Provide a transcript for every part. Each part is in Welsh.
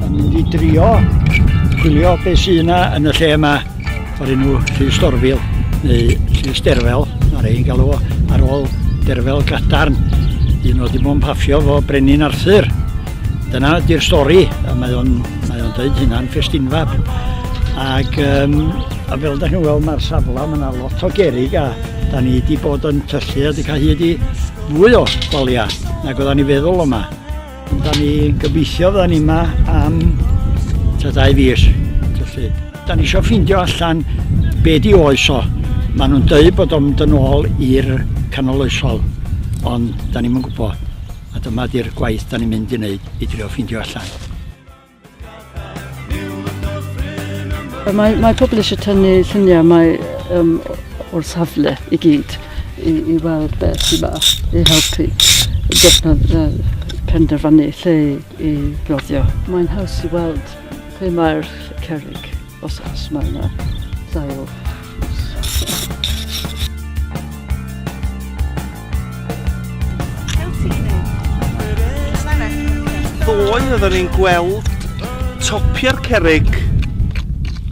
Yn mynd i drio gwylio beth sy'n yna yn y lle yma o'r enw Llys Dorfil neu Llys Derfel, mae'r ein galw o, ar ôl Derfel Gadarn, un o ddim o'n paffio fo Brenin Arthur. Dyna di'r stori, a mae o'n mae o'n dweud hynna'n ffestinfab. Ac um, a fel da chi'n weld mae'r safle, mae yna lot o gerig a Da ni wedi bod yn tyllu a wedi cael hyd i fwy o baliau nag oedda ni feddwl yma. Da ni gobeithio fydda ni yma am ta dau fis. Tyllu. Da ni eisiau ffeindio allan be di oes o. Maen nhw'n dweud bod o'n mynd yn ôl i'r canol oesol, ond da ni'n gwybod. A dyma di'r gwaith da ni'n mynd i wneud i drio ffeindio allan. Mae, mae pobl eisiau tynnu lluniau mae, um, o'r safle i gyd i, i weld beth sy'n ma i helpu defnydd uh, penderfynu lle i roddio. Mae'n haws i weld lle mae'r cerrig. Os os mae yna dail. Ddoe oeddwn ni'n gweld topiau'r cerig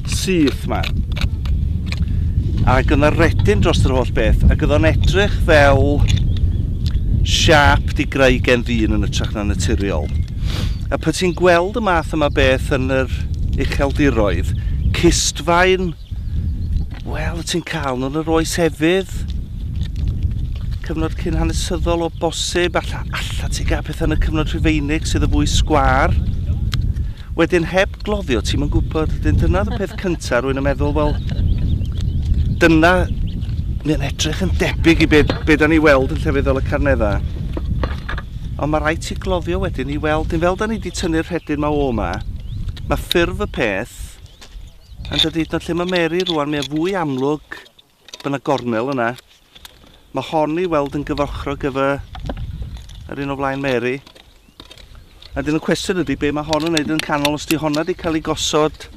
syth ma. Ac yna redyn dros yr holl beth, ac yna edrych fel siap di greu gen ddyn yn ytrach na naturiol. A pan ti'n gweld y math yma beth yn yr ucheldiroedd, cystfaen, wel, wyt ti'n cael nhw yn yr oes efydd, cyfnod cyn hanesyddol o bosib, alla, alla ti gael pethau yn y cyfnod rhufeinig sydd y fwy sgwar. Wedyn heb gloddio, ti'n mynd gwybod, dyn dyna y peth cyntaf, rwy'n yn meddwl, wel, dyna, mae'n edrych yn debyg i beth be da ni weld yn llefydd fel y Carneddau. Ond ma raid ti gloddio wedyn i weld yn fel da ni di tynnu'r rhedyn ma o ma. Mae ffurf y peth yn dydy hyd yn lle mae Mary rwan mae fwy amlwg bod yna gornel yna. Mae hon i weld yn gyfochrog gyfa yr un o flaen Mary. A dyn y cwestiwn ydy be mae hon yn neud yn canol os di honna di cael ei gosod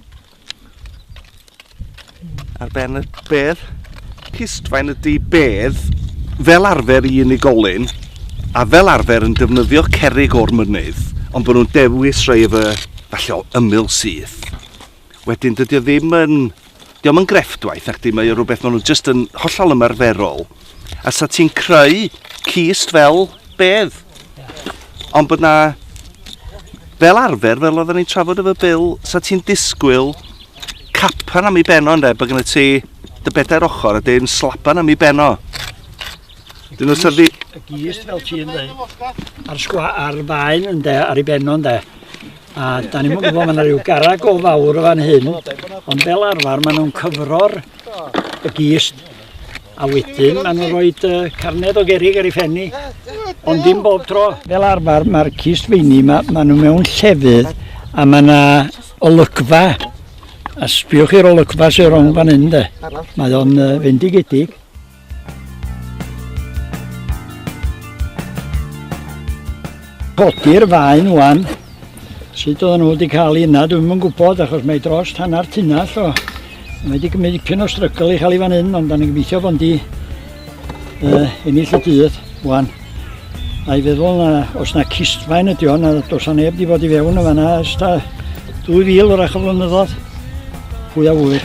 Ar ben y bedd, pistfaen ydy bedd fel arfer i unigolyn a fel arfer yn defnyddio cerig o'r mynydd, ond bod nhw'n dewis rhai efo falle o ymyl syth. Wedyn, dydy o ddim yn... Diolch yn grefftwaith, ac di, mae o rhywbeth maen nhw jyst yn hollol ymarferol. A sa ti'n creu cist fel bedd. Ond bod na, fel arfer, fel oedden ni'n trafod efo Bill, sa ti'n disgwyl capan am ei beno yn de, bod gen ti dy bedair ochr a dyn slapan am ei beno. Dyn nhw'n syrdi... Y gist fel ti'n dweud, a'r sgwa, a'r faen yn de, ar ei beno yn de. A da ni'n gwybod, mae yna rhyw garag o fawr o fan hyn, ond fel arfer maen nhw'n cyfro'r y gist A wedyn maen nhw'n rhoi uh, carned o gerig ar ei phen ni, ond dim bob tro. Fel arfer, mae'r cist feini, ma, maen nhw mewn llefydd, a mae yna olygfa, a sbiwch i'r olygfa sy'n rong fan hyn, de. Mae o'n uh, fendigedig. Codi'r faen wan. Sut oedden nhw wedi cael un na, dwi'm yn gwybod, achos mae dros hanner tunnell o. Mae wedi gymryd dipyn o strygl i cael ei fan hyn, ond da ni'n gobeithio bod di uh, ennill y dydd, wan. A'i feddwl na, os na cistfaen ydi o'n, na dos a neb di bod i fewn y fanna, ys ta 2000 wrach o flynyddoedd. Pwy a wyr.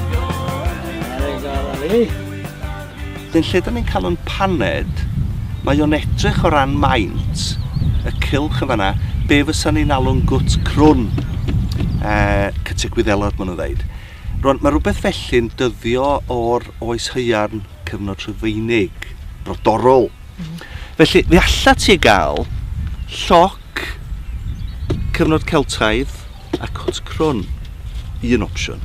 Dyn lle da ni'n cael yn paned, mae o'n edrych o ran maint y cylch yn fanna, be fysa ni'n alw'n gwt crwn, uh, cytiau gwyddelod maen nhw'n ddeud. Rwan, mae rhywbeth felly'n dyddio o'r oes hyairn cyfnod rhyfeinig, brodorol. Mm. Felly, fe allat ti gael lloc cyfnod Celtaidd, a cwt crwn, un opsiwn.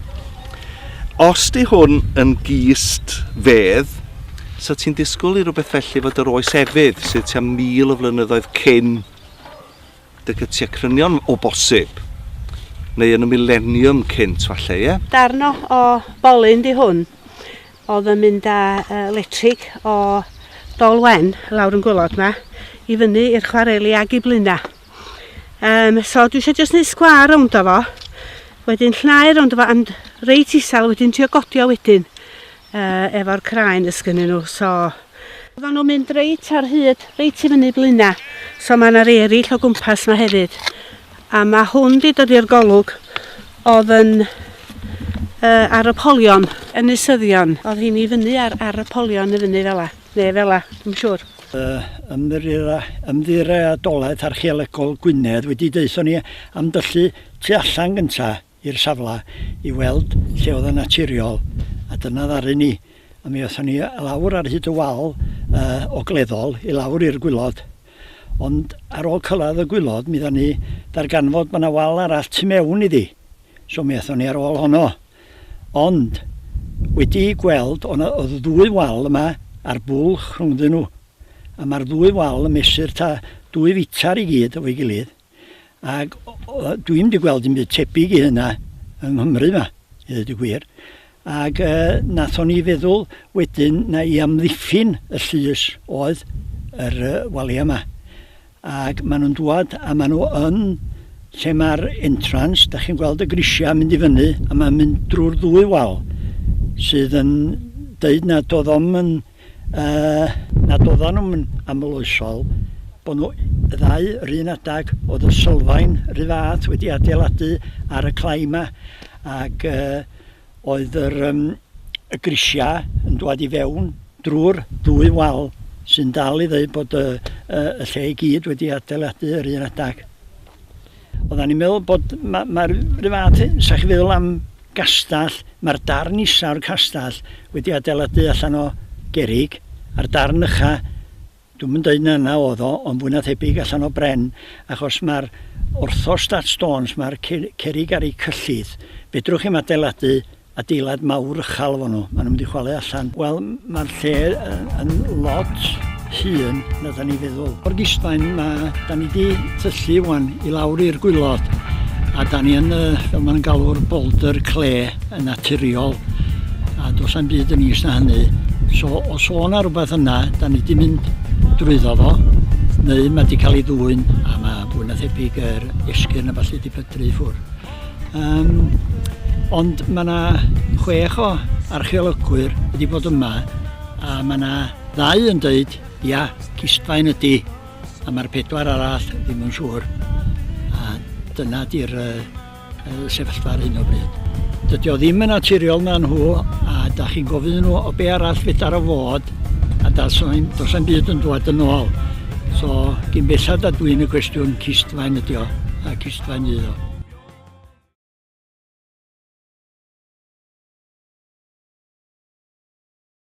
Os di hwn yn gist fedd, so ti'n disgwyl i rhywbeth felly fod yr oes efydd sydd tua mil o flynyddoedd cyn dy gytiau crynion o bosib, neu yn y mileniwm cynt falle, ie? Darn o, o bolyn di hwn, oedd yn mynd â uh, letrig o Dolwen lawr yn gwylod ma, i fyny i'r chwareli ag i blina. Um, so dwi eisiau jyst neud sgwar rownd o fo. Wedyn llnau rownd o fo and reit isel wedyn trio godio wedyn uh, efo'r craen ys gynnyn nhw. So Oedden nhw'n mynd reit ar hyd, reit i fyny blina. So mae yna eraill o gwmpas yma hefyd. A mae hwn di dod i'r golwg oedd yn uh, ar y polion. Yn isyddion. Oedd hi'n i fyny ar, ar y polion i fyny fel la. Neu fela, dwi'n yn siŵr. Yy, Ymddiriedolaeth Archeolegol Gwynedd wedi deutho ni am dyllu tu allan gynta i'r safle i weld lle oedd yn naturiol, a dyna ddaru ni. A mi aethon ni lawr ar hyd y wal uh, ogleddol i lawr i'r gwylod. Ond ar ôl cyrraedd y gwylod, mi dda ni darganfod bod yna wal arall tu mewn iddi. So mi aethon ni ar ôl honno. Ond, wedi'u gweld, o' 'na o'dd ddwy wal yma a'r bwlch rhwngddyn nhw, a ma'r ddwy wal yn mesur ta dwy fitr i gyd efo'i gilydd, ag dwi'm 'di gweld dim byd tebyg i hynna yng Nghymru 'ma, i ddeud y gwir. Ag yy nathon ni feddwl wedyn na i amddiffyn y llys oedd yr yy walia 'ma. Ac maen nhw'n dŵad a maen nhw yn lle mae'r entrance, da chi'n gweld y grisiau yn mynd i fyny a mae'n mynd drwy'r ddwy wal sydd yn deud nad oedd o'm yn, uh, nad oedden nhw'n yn amloesol, bod nhw y ddau yr un adag, oedd y sylfaen rhy fath wedi adeiladu ar y clai yma ac uh, oedd yr, um, y grisiau yn dwad i fewn drwy'r ddwy wal sy'n dal i ddweud bod y, y, y lle i gyd wedi adeiladu yr un adag. Oedden ni'n meddwl bod mae'r ma, ma rhyw fath, sa chi feddwl am gastell, mae'r darn isaf o'r castell wedi adeiladu allan o gerig, a'r darn ycha Dwi'm yn deud na 'na o'dd o, ond fwy na thebyg allan o bren, achos ma'r orthostat stones, ma'r cerrig ar eu cyllid, fedrwch chi'm adeiladu adeilad mawr uchal efo nhw, ma' nhw'n mynd i chwalu allan. Wel, ma'r lle yn lot hŷn na 'dan ni'n feddwl. O'r gisfaen ma' 'dan ni 'di tyllu ŵan i lawr i'r gwilod, a 'dan ni yn y, fel ma' nhw'n galw'r boulder clay, yn naturiol a does na'm byd yn is na hynny. So os o' 'na rwbeth yna, da ni 'di mynd drwyddo fo neu mae 'di cael ei ddwyn a mae fwy na thebyg yr esgyrn a ballu 'di pydru i ffwrdd. Um, ond mae yna chwech o archeolygwyr wedi bod yma a mae yna ddau yn dweud, ia, cistfaen ydy, a mae'r pedwar arall ddim yn siŵr. A dyna di'r uh, sefyllfa ar hyn o bryd. Dydy o ddim yn naturiol na nhw a da chi'n gofyn nhw o be arall fedar o fod a dos am byd yn dod yn ôl. So, gyn bellad a dwi'n y cwestiwn cistfaen ydi o a cistfaen ydi o.